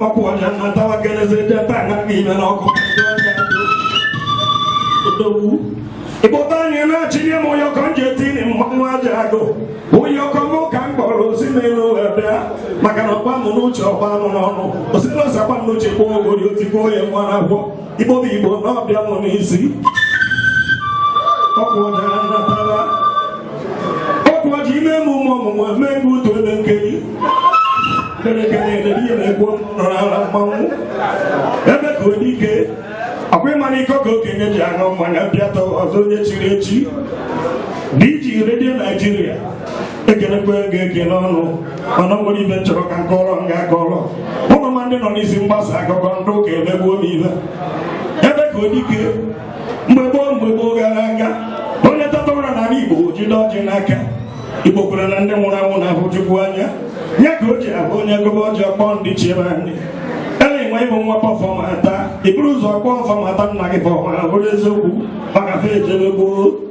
ọkwa ọja na tawa kenezi ndị ebe a gaghị ime n'ọkụ odogwu ịkpọta anyị na-achịnye m ụyọkọ m ji etiri mmanwụ aja agụ ụyọkọ m ka m kpọrọ si n'elu wee bịa maka na ọ gba m n'uche ọ gba m n'ọnụ osi n'ụzakwa m n'uche kpọọ ogori otikpọọ ya nwa na agwọ Igbo bụ Igbo na ọ bịa m n'isi ọkwa ọja na tawa ọkwa ọja ime emume ọmụmụ eme ebe utu ebe nkeri kelekele edebe ihe na-egbu nrara mmanwụ Ebekuodike ọkwa ịmara iko ka okenye ji aṅụ mmanya bịa tọ ọzọ onye chiri echi DJ Radio Nigeria ekelekwe gị ekele ọnụ mana ọ nwere ibe m chọrọ ka m kọọrọ m ga-akọrọ unu ma ndị nọ n'isi mgbasa akụkọ ndị ụka emegbuo m ibe Ebekuodike mgbe gboo mgbe gboo gara aga onye teta ụra n'ala igbo jide ọjị n'aka igbo kwere na ndị nwụrụ anwụ na-ahụ chukwu anya ya ka o ji abụ onye gọba ọjị ọ kpọọ ndị ichie be anyị ele nwe ị bụ nwa Ọfọmata i buru ụzọ kpọọ Ọfọmata nna gị pọfọma bụrụ eziokwu maka fa ejebe gboo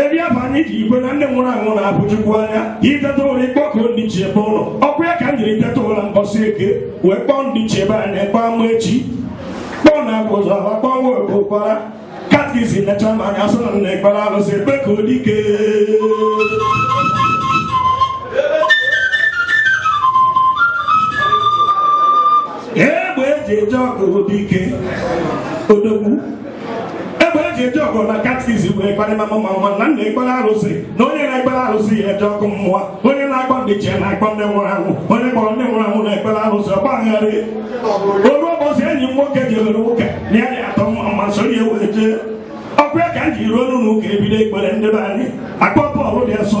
ebe ya bụ anyị ji ekwe na ndị nwụrụ anwụ na-ahụ chukwu anya i teta ụra ị kpọkuo ndị ichie be unu ọkwa ya ka m jiri teta ụra mbọsị eke wee kpọọ ndị ichie be anyị kpọọ Amaechi kpọọ na agwa ụzọ ala kpọọ nwa obo kwara katkisi nechaa m anya sị na m na-ekpere arụsị Ebekuodike egbe eji eje ọgụ dike odogwu ji eje ọgụ nwa katkisi wee kparịma m ma ọ ma na m na-ekpere arụsị na onye na-ekpere arụsị ya eje ọkụ mmụọ onye na-akpọ ndị ichie na-akpọ ndị nwụrụ anwụ onye kpọrọ ndị nwụrụ anwụ na-ekpere arụsị ọ gbagharịa o ruo ụbọchị enyi m nwoke jebere ụka na ya dị atọ mma m soro ya wee jee ọkwa ya ka m ji ruo n'ụlọ ụka ebido ekpere ndị be anyị akpọ Pọọlụ dị asọ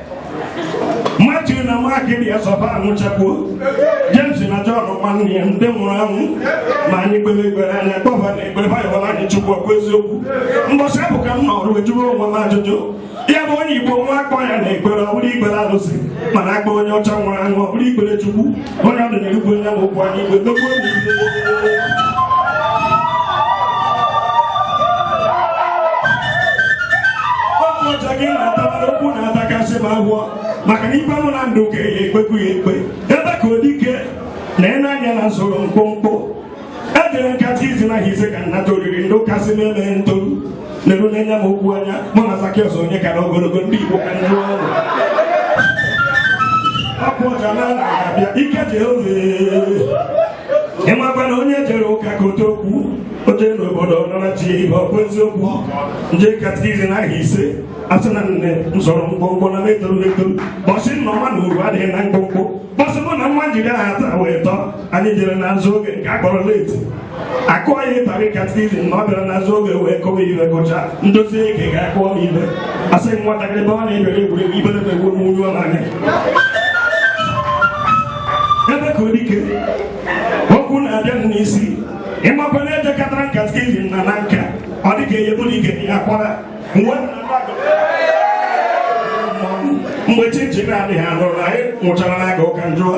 Matiu na Mak dị asọ fa anwụchakwuo Jems na Jọn nwanne ya ndị nwụrụ anwụ ma anyị kpere ekpere anyị akpọ fa n'ekpere fa yọbara anyị chukwu ọkwa eziokwu mbọchị ahụ ka m nọrọ wee jụọ onwe m ajụjụ ya bụ onye Igbo nwụọ akpọ ya n'ekpere ọ bụrụ ikpere arụsị mana akpọ onye ọcha nwụrụ anwụ ọ bụrụ ikpere chukwu Onye ọdụ n'igwe ya bụ ụkwụ anyị igwe megbuo n'igwe. Otu ọcha gị na-atabara okwu na-atakasị m ahụ maka na ikpe mụ na ndị ụka ya ekpekwu ya ekpe Ebekuodike na ịna-anya na m sụrụ mkpụmkpụ ejere m katikizim aha ise ka m nata oriri ndị ụka sị na-eme ntoru na-eru n'anya m okwu anya mụ na Zakịọs onye kara ogologo ndị Igbo ka nnu ọnụ ọkwa ọja na ala abịa ike Jehova ịmakwa na onye jere ụka ka ote okwu oje n'obodo nọ na chi ihe ọkwa eziokwu m jee katikizim aha ise asị na m sụrụ mkpụmkpụ na m etoru etoru mbọsị nna ọma na uru adịghị na mkpụmkpụ bọsị mụ na nwa njide ha taa wee tọ anyị jere n'azụ oge nke a kpọrọ leti akụọ ya ịtarị katikizim na ọ bịara n'azụ oge wee kọwa ibe gụcha ndozi eke ga-akụọ m ibe asị m nwatakịrị ebe ọ na-ebere egwuregwu ibere na egwu n'uju ọ na-anya ebekuodike okwu na-abịa m n'isi ị makwa na e jekọtara katikizim na nka ọ dịka eyebụrụ ike ya kwara mgbe chinchin na-adịghị a nụrụ na anyị nwụchara n'agụụ ka m jụwa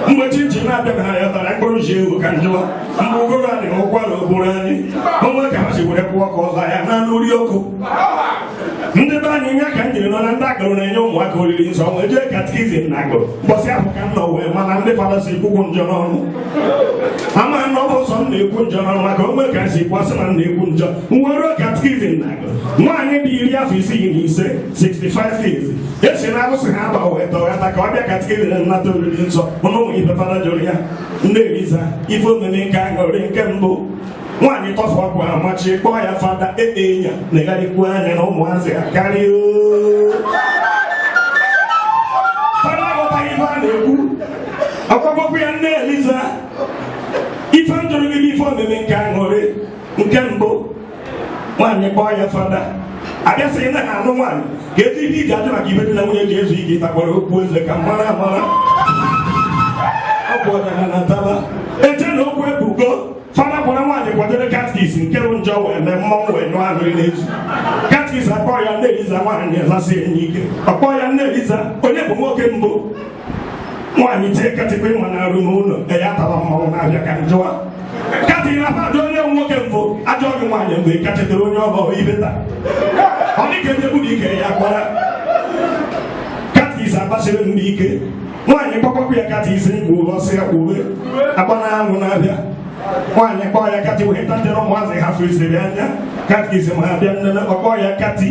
mgbe chinchin na-abịaghị anyị ọ tara mkpụrụ nsị ewu ka m jụwa mgbe ụgụrụ adịghị ụkwara o gburu anyị o nwe ka ha si were kwụọ ka ọzọ ya na nri ọkụ ndị be anyị nya ka m jiri nọ na ndị akụrụ na-enye ụmụaka oriri nsọ wee jee katikizim na agụrụ mbọsị ahụ ka m nọ wee ma na ndị fada sokwu ekwu njọ n'ọnụ ama na ọ bụ sọ m na-ekwu njọ n'ọnụ maka o nwe ka m si kwasị na m na-ekwu njọ nwere katkizim na nwaanyị dị iri afọ isii na ise 65 years e si na arụsị ha agba wee tọghata ka ọ bịa katkizim na nnata oriri nsọ ụnụ ụmụ ife fada jụrụ ya nne eliza ife omume nke aṅụrị nke mbụ nwaanyị tọfụ ukwu akwa machie kpọọ ya fada ekpe ya na ịgharịkwuo anya na ụmụazị ha karịa fada aghọtaghị ife a na-ekwu ọ kpọkpọkwu ya nne eliza ife m jụrụ gị bụ ife omume nke aṅụrị nke mbụ nwaanyị kpọọ ya fada a bịa sị na ha anụ nwaanyị ka e ji ihe i ji ajụ maka ibe di na nwunye ji ezu ike ịtakwara okwu eze ka mara amara ọ bụ ọdara na taba eche na okwu ebigo fada gwara nwaanyị kwadoro katkis nke bụ njọ wee mee mmọnwụ wee nyụọ ahụrụ n'ezu katkis akpọọ ya nne eliza nwaanyị azasie nya ike ọ kpọọ ya nne eliza onye bụ nwoke mbụ nwaanyị tie kati kwa ị ma na arụ n'ụlọ e ya tara mmanwụ n'afịa ka m jụwa kati na mmadụ onye nwoke mbụ ajụọ gị nwaanyị mgbe ị ka chetere onye ọ bụrụ ibe taa ọ dịka ebe bụ ike ya gbara katis agbachiri ntị ike nwaanyị kpọkpọkwa ya katis mgbe ụlọ ọ sị ya kwuwe agba mmanwụ n'afịa nwaanyị kpọọ ya kati wee tatere ụmụazị ha fụziri anya katis ma ha bịa nne ọ kpọọ ya kati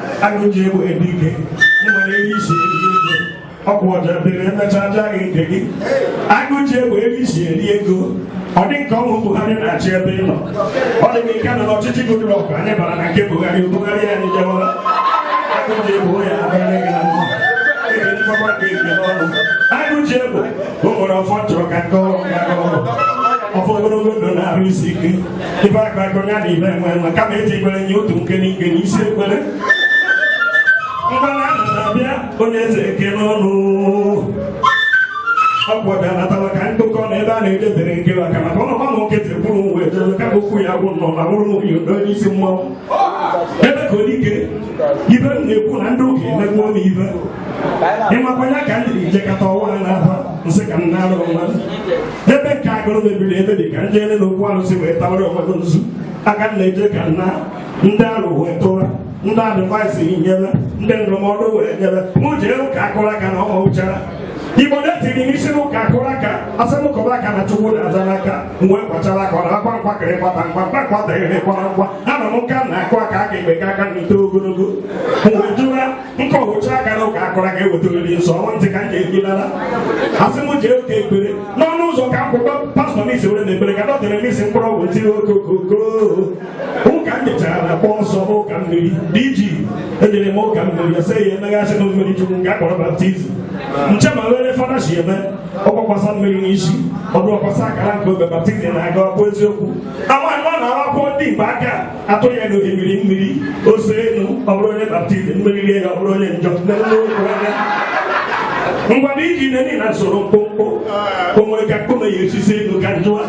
agụjiegbe dike ị nwere ihe i si eri ego ọ bụ ọja bere emechaa ajaa gị nke gị agụjiegbe ebe i si eri ego ọ dị ka ọ wụ Buhari na-achị ebe ị nọ ọ dị ka ị ka nọ n'ọchịchị Goodluck anyị bara na nke Buhari Buhari anyị jewara agụjiegbe ya abịara gị na mma ekele mgbagba nke nke n'ọnụ agụjiegbe o nwere ọfọ chọrọ ka nke ọrụ ya ọfọ ogologo ndụ na arụ isi ike ife akụ akụ nya na ibe enwe enwe kama eti ekwere nye otu nkene nkene isi ekwere mgbana ana n'afịa onye eze eke n'ọnụ ọ gwọbịa natara ka ndụkọ na ebe a na-edebere nke maka maka ọ nọkwa na nkịtị kwuru uwe edebe ka okwu ya gwụ nọ na wụrụ nwunye udo n'isi mmọnwụ ebekuodike ibe m na-ekwu na ndị ụka emegbuo m ibe ịmakwa ya ka m jiri jekọta ọnwa a na-aba nsị ka m na-arụ onwe m ebe nke agụrụ mebiri emebi ka ndị ele na okwu arụsị wee tawara onwe m nzu aka m na-eje ka m na ndị arụ wee tụra ndị advice nyere ndị ndụmọdụ wee nyere m jee ụka akụrụ aka na ọma ụchara igbo na-etiri m isi n'ụka akụrụ aka asị m kụba aka na chukwu na-aza n'aka m wee kwachara aka ọ na-akwa nkwa kịrị kwata nkwa mkpa kwata ire kwara nkwa ana m nka na-akụ aka aka ekpe ka aka nri ogologo m wee jụra m kụcha aka na ụka akụrụ aka eweta oriri nsọ ọnwa ntị ka m ga-ekwedara asị m jee ụka ekpere n'ọnụ ụzọ ka akwụkwọ pastọ m isi were na ekpere ka dọtara m isi mkpụrụ ọgwụ tiri okokoko ụka m jechara na kpọọ nsọ n'ụka mmiri dị iji ejere m ụka mmiri ya sị ya emeghasị na mmiri chukwu nke akpọrọ baptizim nche ma were fada si eme ọ gbakwasa mmiri n'isi ọ tụkwasa akara nke obe baptizim na-aga ọkụ eziokwu amaghị m na-akwụkwọ ndị igbo aka atụrụ ya n'ohimiri mmiri ose enu ọ bụrụ onye baptizim mmiri rie ya ọ bụrụ onye njọ ngwa na iji nne na soro mkpụmkpụ o nwere ka mkpụme ya esisi elu ka njụwa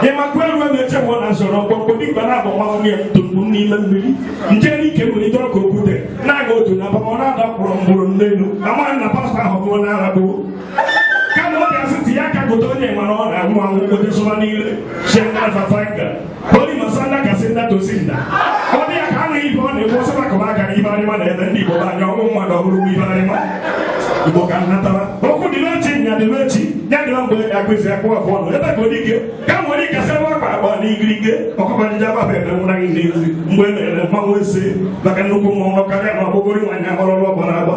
ị makwa elu emeche mụ na soro mkpụmkpụ dịkwa na abụ nwa nwunye ntụmkpụ n'ime mmiri nje n'ike nwere ike ọka okwute na-aga otu na abamọ na-ada mkpụrụ mgbụrụ n'elu amaghị na pastọ ahụ bụ onye ara bụ kama ọ ga-asị tinye aka gote onye nwere ọ na-anwụ anwụ kpote sụba niile si aka fafa Onye masanda kasị nna tosi nna. Ọ dị ya ka a na-ibe ọ na-ekwu ọsọ maka ụba gara ibe arịma na ebe ndị Igbo bụ anya ọnwụ mmadụ ọhụrụ bụ ibe arịma. Igbo ka nnatara. Okwu dị n'echi nya dị n'echi ya dị mgbe akụzi akpụ afọ ọnụ ebe ka odike ka m nwere ike sebe akpa akpa na igirige ọkụkọ ndị agbaba ebe nwụra gị n'ezi mgbe e mere mmanwụ ese maka nnukwu mmọnwụ karịa na ọgbụgụrụ nwaanyị ahọrọrụ ọgbara agba